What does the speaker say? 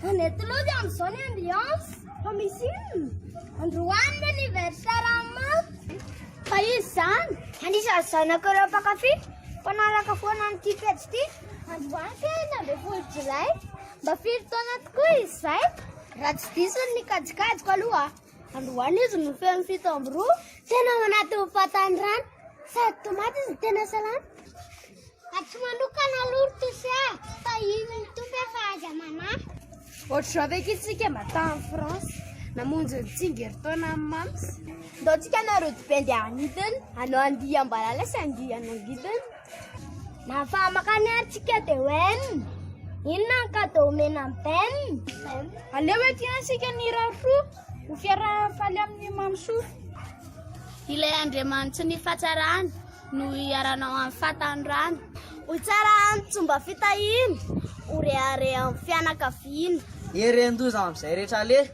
Any Atolozy amin'izao ny ambiance fa misy inona? Androany ny anniversaire an'i Mafy. Fa izy izany, anisan'ny zanako ireo mpankafy mpanaraka foana an'ity pejy ity. Androany ka enina ambin'ny folo jolay, mba firy taona tokoa izy izay? Raha tsy diso ny kajikajiko aloha. Androany izy no feno fito amby roa. Tena ao anatin'ny fatan'ny rano. Sady tomaty izy tena salama. Atsy manokana aloha ry Tosy ah, fa iny ny Tompo efa aza manahy. Ohatr'izao ve k'ity tsika mba tany France, namonjy ny tsingerin-taona amin'ny Mams. Ndao tsika nareo dibendy any hidiny, hanao andiam-balala sy andian'angidiny. Na famakany ary tsika de wen Inona ny cadeau omena an'i Ben Aleo ety isika ny rafo Ho fiarahan'ny faly amin'ny mamisoa Ilay Andriamanitry ny fatsarany No hiaranao amin'ny fahatanorany Ho tsara amin'ny tsomba fitahiana Ho rehareha amin'ny fianakaviana Hery an-doza amin'izay rehetra aleha